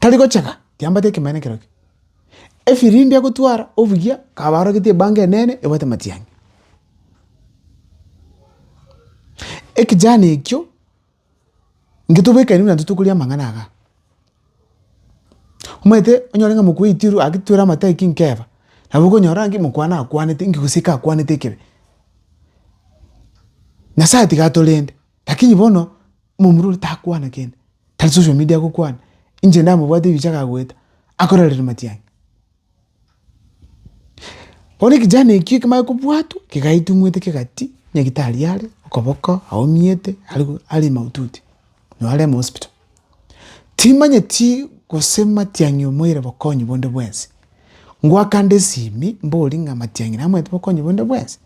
Tari gochega, tiambate ekemanera ekero eke. Efirimbi agotwara obuya, akaba arogete ebango enene ebwate matiang'i. Ekejana ekio, inche tobekani buna intwe tokoria amang'ana iga. Omanyete onyore ng'a mokweyi tiru gaki twere amate aye ki nkeba, nabo okonyora ng'a ki mokwana akwanete inki gose ki akwanete ekebe. Nyasaye tiga atorende, lakini bono. Omomura oria takwana kende, tari social media agokwana, inche ndamobwate ebichake agoeta, akororera matiang'i. Bono ekejana ekio ekemare kobwatwa, kegaetumwete kegati, nyagetari are, okoboko aumyete, are mahututi, nonye aremo hospital. Timanyeti gose matiang'i omoeire bokonyi bonde bwensi, ngwakande esimi, mbori ng'a matiang'i namanyete bokonyi bonde bwensi,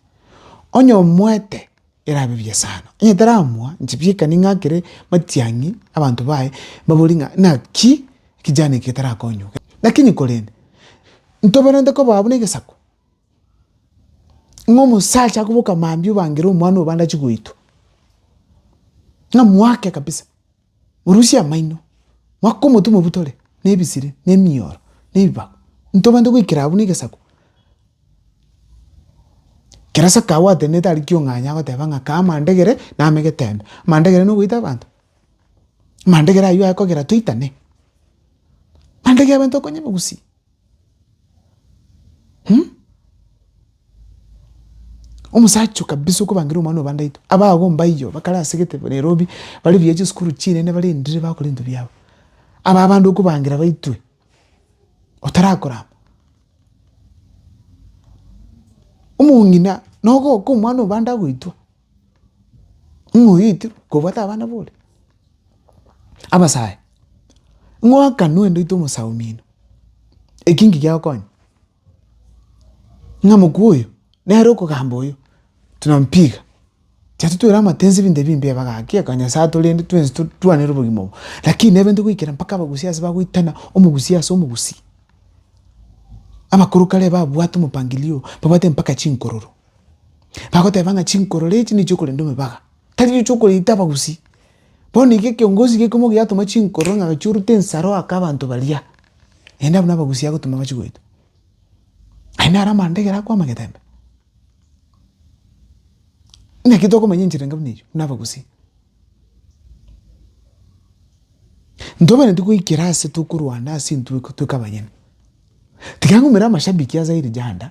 onye omoete. erabe buya sana. Onye taramoa, inche bieka ning'akere matiang'i abanto baye, mbabori ng'a naki ekijana eke getarakonywoka. Lakini korende, ntoberente kobaa buna egesaku, ng'a omosacha akoboka mambia obangere omwana obo ande achi goitwa, ng'a mwake kabisa. Morusie amaino, mwake omotwe mobutore nebisire, na emioro, na ebibago, ntobante goikera abwo na egesaku. Kera sake agwo atenenete aria kiong'anyi agoteba ng'a kaa amandegere name egetembe, amandegere na ogoita abanto? Amandegere aywo aye kogera toitane? Amandegere abanto bakonyame gusii. Hum? Omosacha o kabisa okobangerwa omwana oba ndaito, abago mbaiyo bakare ase gete Nairobi, bare buya chisukuru chinene barendire bakora ebinto biabo. Aba abande okobangera baitwe, otarakorama. Omong'ina, nogoka omwana oba ande agoitwa. Ng'a oetirwe kobwata abana bore, abasae, ng'a oakanwe ndoite omosao omino, eki nki giagokonya? Ng'a mokwo oyo nere okogamba oyo, tunampiga, chiria titweire amatensi ebinto ebi mbiaba gaki, aka Nyasae atorende twensi twane ere obogima obo, lakini nebe ntogoikera mpaka abagusia ase bagoitana omogusia ase omogusia, abakoro kare babwate omopangilio oo, babwate mpaka chinkororo. Bagoteba ng'a chinkorore echi nichio korenda omebaga, tari nichio okoreita abagusii. Bono iga ekiongozi gekemo giatoma chinkorore ng'a gachia orute ensaro ake abanto baria, naende abwo nabagusii agotoma bachie goitwa. Aye naro amanda ekero akoama egetembe. Naki tokomanya enchera enga buna eyio, buna abagusii. Ntobwenereti goikera ase tokorwana ase intwe tweka abanyene. Tiga ngumera amashabiki ase Airijanda.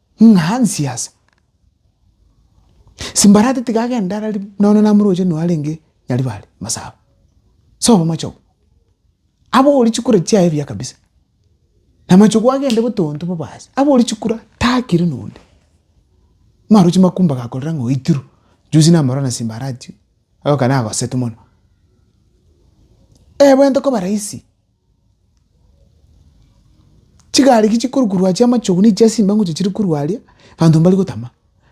Ng'a Hansi ase. Simbarati tiga agende arari nonya namoroche nonya arenge Nyaribare masaba. Ase obomoche obo. Abori chikura chiaye buya kabisa. Na machogo agende botonto bobasi. Abori chikura takire nonde. Marochi makumba gakorera ng'a oitirwe. Juzi namorora na Simbarati. Oka nagosetu mono. Ebwente koba rahisi. Chigari ki chikorukurwa achia amachogu nigo chia simba ngocha chiri korwa aria, abanto mbari gotama,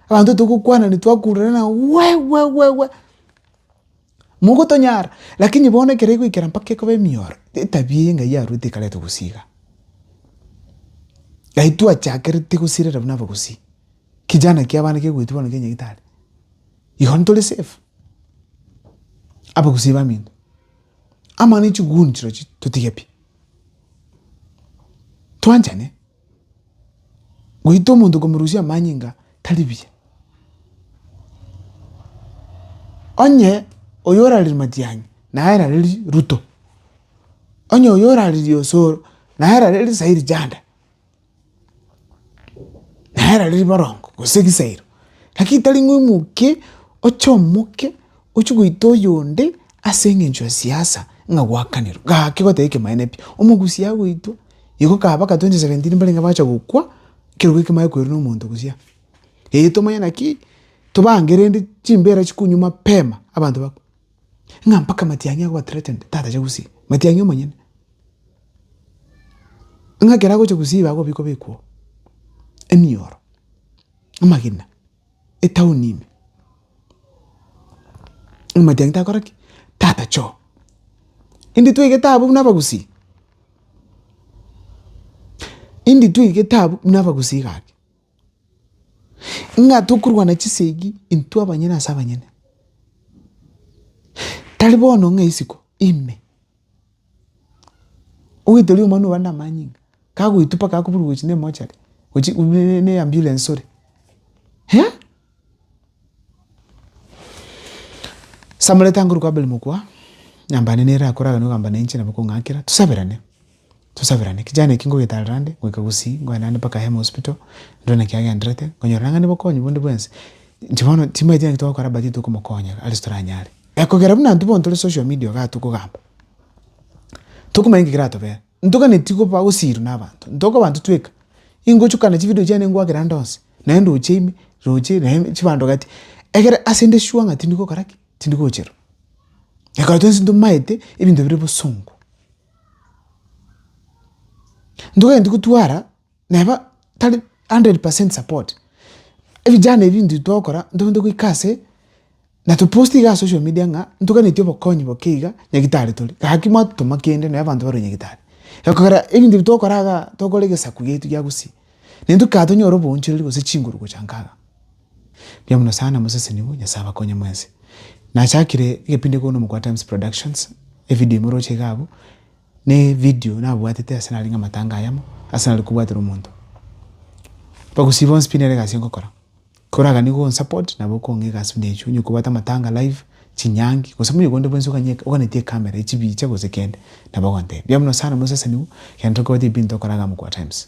abanto togokwana na twakururana nabo we we we we, mogotonyara, lakini bono ekero egoikera mpaka ekoba emioro, etabia eye engayi arwete ekarenta obosio iga. Naye twachakerete gosirera buna abagusii, kijana kia abana kegoetwa bono kia nyagetari, igo ntore safe, abagusii bamino. Amang'ana e chiguni chirochi totige pi. Twanchane. Goita omonto komorusia amanyinga tari buya. Onye oyo orareria matiang'i naye ararerie Ruto. Onye oyo orareria osoro naye ararerie Sairi Janda. Nere riria riborongo gose risairo, lakini tari ng'a omoke oche omoke ochie goita oyonde ase eng'encho ya siasa ng'a gwakanire, gaki goteba ekemanyereria pi. Omogusia agoitwa, iko kaba baka twenty seventeen mbarenge bacha gokwa, ekerogwa ekio kimanye koirwa na omonto gosio. Eyi tomanye naki, tobangereri chimbera chikonywa mapema abanto bakwe. Ng'a mpaka matiang'i agoba threatened, tatacha gusii, matiang'i omonyene. Ng'a ekero agocha gusii igo agobikwa bikwa emioro, amagena, etown ime. Ng'a matiang'i takora ki? Tatacha oo. Inditwegete abwo buna abagusii, inditwegete abwo buna abagusii gaki. Ng'a tokorwana chisegi intwe abanyene ase abanyene. Tari bono ng'a isiko ime, oetari omwana obare na amanyinga ng'a kagoitwa mpaka akoburwa gochia na emochari gochia na eambiulens ore. Samula etango rikwa Abeli mokwa, nyambane nere akoragane ogamba nainche nabo okong'akera, tosaberane, tosaberane. Kijana eki ngogetarera ande goika gosii, ngoende ande mpaka Ahemo Hospital, ndore naki agenderete, nkonyora nang'ani bokonyi bonde bwensi. Inche bono timanyeti naki togokora but tokomokonya are ase toranyare. Ekogera buna intwe bono tore social media igaa tokogamba, tokomanya nki keratobera. Ntoganeti goba gosiirwa nabanto, ntokoba ntotweka, ingochwa kana chividio chiane ngwakera ande onsi, naye ndoche ime, roche, naye chibando gati, egere ase nde sure ng'a tindi gokora ki? Tindi gocherwa. Ekero twensi ntomaete ebinto bire bosongo, ntoganeti gotwara neba tari hundred percent support. Ebijana ebi intwe togokora ntogende goika ase na topost iga ase social media ng'a ntoganeti obokonyi boke iga nyagetari tore, gaki mwatotoma kende nonye abanto barwe nyagetari. Ekogera ebinto ebi togokora iga tokore egesaku giaito gia gusii, naende tokae tonyore oboonchereri gose chinguru gocha nkaga. Mbuya mono sana mosesenigwe, Nyasae abakonye mwensi. Nachakire egepindi ekero na Omogwaa Times Productions, evidio imoroche iga abwo. Ne video nabwatete ase narenge amatanga ayamo ase nare kobwatera omonto. Bagusii bonsi pi nere egasi ngokora. Koragani go support nabo kong'e egasi buna echo onye kobwate amatanga live, chinyangi, gose muna ogo onde bwensi oganye oganetie camera echibicha gose kende nabo ogontebia. Mbuya mono sana moseseniwe kende tokobwati ebinto okoraga amo kwa times.